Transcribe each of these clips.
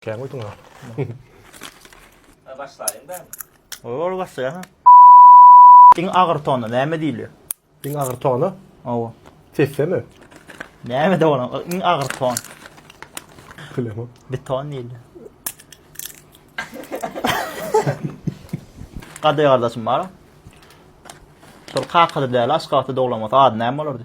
Kän goýduň ha. Başlaýyň ben. Ol başlaýa ha. Diň agyr tona näme diýilýär? Diň agyr tona? Owa. Sessemi? Näme de bolan? Iň agyr ton. Bilemem. Beton diýilýär. Gadyr gardaşym bar. Şol kakady däl, aşgabatda doglamasy ady näme bolardy?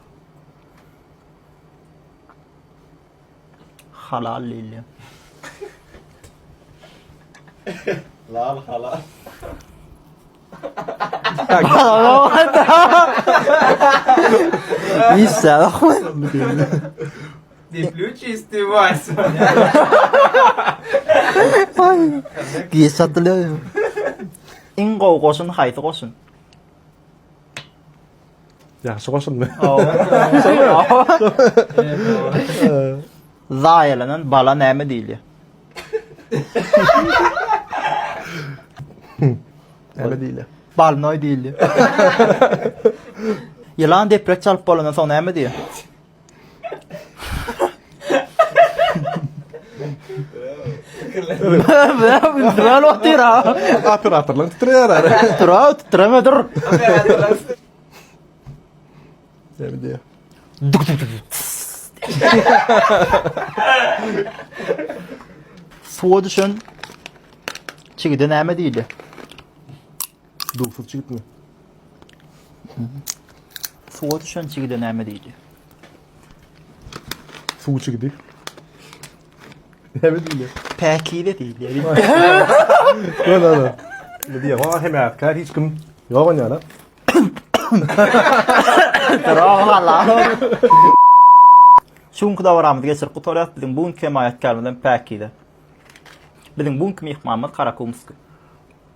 Halal lilýa. Lal halal. Issa bakma. Dipli çisti vas. Giýe satylýar. Iň gowy goşun haýsy goşun? Ýagşy goşuldy. Zaýalanan bala näme diýilýär? Näme diýilýär? Balnoý diýilýär. Ýylan deprek çalyp bolandan soň näme diýýär? Dral otyr ha. Operatorlar titrär. Dral titreme dur. Sen diýä. Duk duk duk. Suwa düşen çigide näme diýdi? Dugsuz çigitmi? Suwa düşen çigide näme diýdi? Suw çigidi. Näme diýýär? Päkize diýdi. Gel ala. Ne diýýär? Wah hem ýatkar hiç kim. Ýok onda ala. Rohala. Şu günki dawaramyzy geçirip gutarýas. Biziň bu günki hemaýatkarymyz hem Päkize. Biziň bu günki myhmanymyz Karakumsky.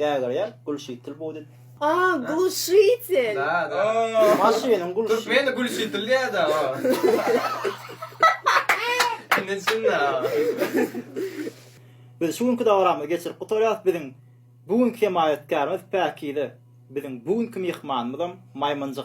Gägirýär, Gülşitil bu diýip. A, Gülşitil. Da, da. Maşynyň gülşi. Türkmende Gülşitil diýýär-de. Indi düşündim. Biz şu günki dabaramyzy geçirip gutarýarys. Biziň bu günki hemaýatkärimiz Päkize. Biziň bu günki myhmanymyzam Maýmynjyk.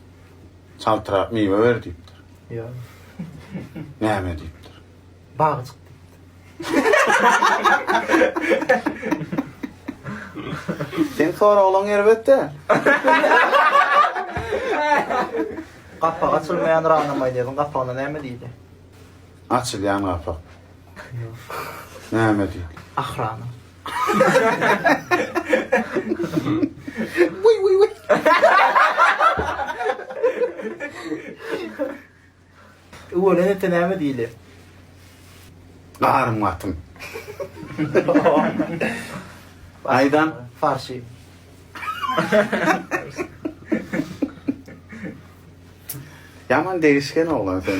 Çaltrak miwe ber diýipdir. Ýok. Näme diýipdir? Bagy çyk diýipdir. Seň soraglaň erbet-dä. Gapak açylmaýan rana maýnezin gapagyna näme diýdi? Açylýan gapak. Näme diýdi? Ahrana. Wiý wiý wiý. Öwelen ete näme diýilýär? Garym atym. Aýdan farşy. Ýaman degişgen oglan sen.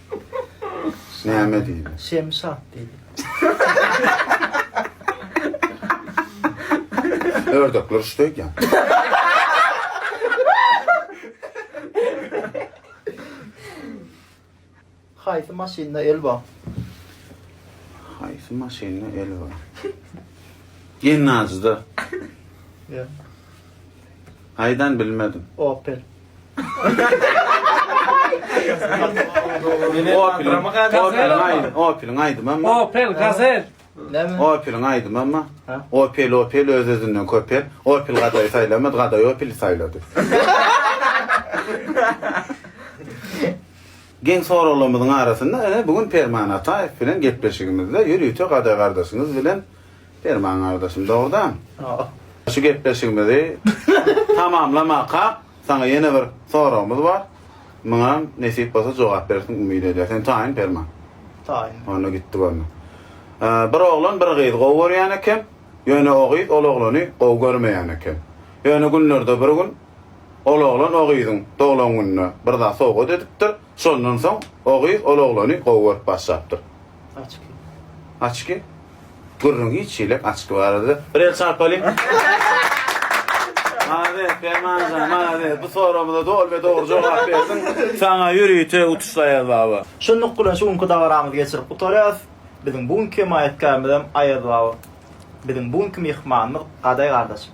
Näme diýdi? Şemşat diýdi. Ördekler şuda eken. Haýsy maşynda el bar? Haýsy maşynda el bar? Gennajyda. Ýa. Haýdan bilmedim. Opel. Opel aýdym amma. Opel Gazel. Näme? Opel aýdym amma. Opel Opel öz özünden köpel. Opel gadaýy saýlamady, gadaýy Opel saýlady. Geň soraglarymyzyň arasynda bu gün Perman Ataýew bilen gepleşigimizde ýörite gadaýy gardaşyňyz bilen Perman gardaşym, dogrudan. Şu gepleşigimizi tamamlamakak, saňa ýene bir soragymyz bar. Muňam nesip bolsa jogap berersiň umyt edýäs. Sen taýyn Perman? Taýyn. Onda gitdi görme. Bir oglan bir gyzy gowy görýän eken, ýöne o gyz ol oglany gowy görmeýän eken. Ýöne günlerde bir gün ol oglan o gyzyň doglan gününe bir zat sowgat edipdir. Şondan soň o gyz ol oglany gowy görüp başlapdyr. Açki. Açki? Gürrüň hiç şeýle açki barada. Bir el çarpalyň. Malades Permanjan, malades. Bu soragymyza doly we dogry jogap berdiň. Saňa ýörite utuşlaýar baba. Şunluk bilen şu günki dabaramyzy geçirip gutarýarys. Biziň bu günki hemaýatkarymyzam Aýazbaba. Biziň bu günki myhmanymyz Gadaý gardaşym.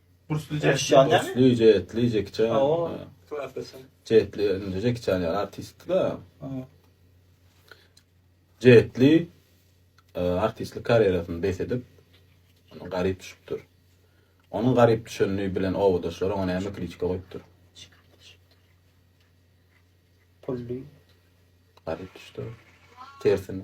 Burslyja etli burslyja etli Jackie Chan. Jetli indi Jackie Chan ýaly artist da. Jetli e, artistlik karýerasyny bes edip garyp düşüpdir. Onuň garyp düşenligi bilen owadaşlary oňa näme kritika goýupdyr? Pully. Garyp düşdi. Tersine.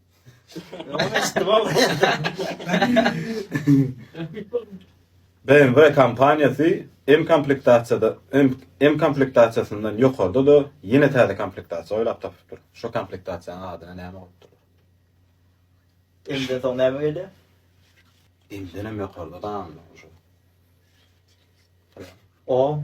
BMW kompaniýasy M komplektasiýada M komplektasiýasyndan ýokarda da ýene täze komplektasiýa oýlap tapypdyr. Şu komplektasiýanyň adyna näme goýupdyr? Indi soň näme geldi? Indi näme ýokarda da O.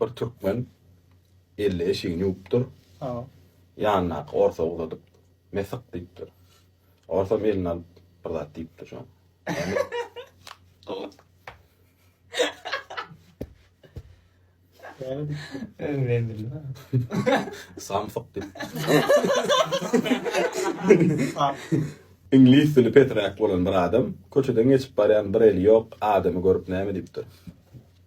Bir türkmen elli eşigini ýuwupdyr. Ýanyndaky orsa uzadyp, Mesyk diýipdir. Orsam eline alyp, bir zat diýipdir şoňa. Näme diýipdir? Samsyk diýipdir. Iňlis dili peträk bolan bir adam köçeden geçip barýan bir eli ýok adamy görüp näme diýipdir?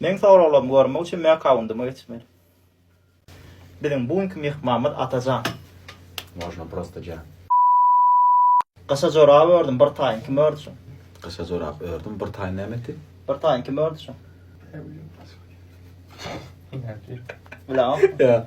Meň soraglarymy görmek üçin meň akkaundyma geçmeli. Biziň bu günki myhmanymyz Atajan. Można prosta jan. Gyşa jorap ördüm, bir taýyn kim ördi şuň? Gyşa jorap ördüm, bir taýyn näme ti? Bir taýyn kim ördi şuň? Bilemok. Ýa.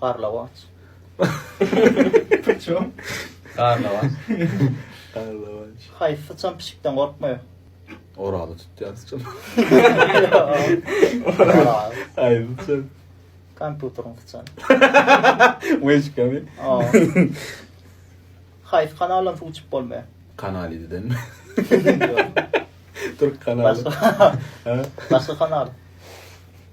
Garlawaç. Purçum. Garlawaç. Garlawaç. Haýsy syçan pişikden gorkmaýar? Orazy tutýan syçan. Orazy. Haýsy syçan? Kompýuteriň syçany. Weçkami. Haýsy kanaldan suw içip bolmaýar? Kanal ýedidenmi? Türk kanaly. Başga. Başga kanal.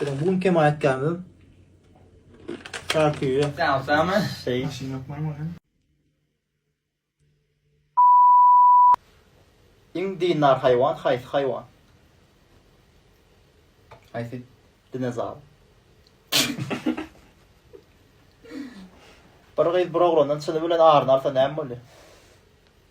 Biziň bu günki hemaýatkarymyz Şarküýe. Sag salama. Şeý. Maşyn ýok maňa hem. Iň dindar haýwan haýsy haýwan? Haýsy? Dinozawr. Bir gyz bir oglandan çyny bilen aryny alsa näme bolýar?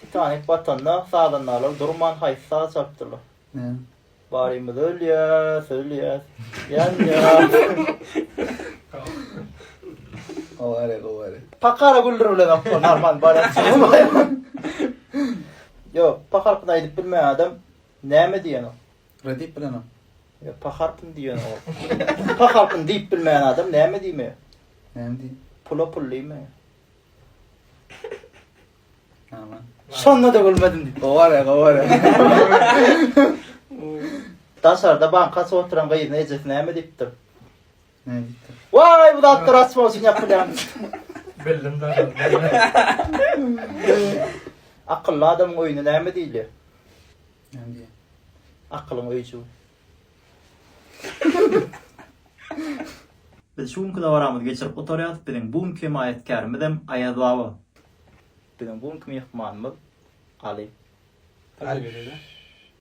Titanik batanda sazandalar durman haýsy saz çalypdyrlar? Men. Barymyz ölýäs, ölýäs. Aware, aware. Pakara güldür bilen akma normal barat. Yok, pakarkyn aýdyp bilmeýän adam näme diýen o? Re diýip bilenok. Ýa pa harpyny diýýän ol. Pa harpyny diýip bilmeýän adam näme diýme? Näme diýip? Pula pul diýme. Aman. Şonda-da gülmedim diýip. Gowara, gowara. Daşarda bankasy oturan gyzyna ejesi näme diýipdir? Näme diýipdir? Waý, bu zatlar rast bolsun ýapylýan. Bildim da. Akylly adamyň öýüne näme diýilýär? Näme Akylyň öýjügi. Biz şu günki dabaramyzy geçirip gutarýarys. Biziň bu günki hemaýatkärimizem Aýaz baba. Biziň bu günki myhmanymyz Aly. Aly.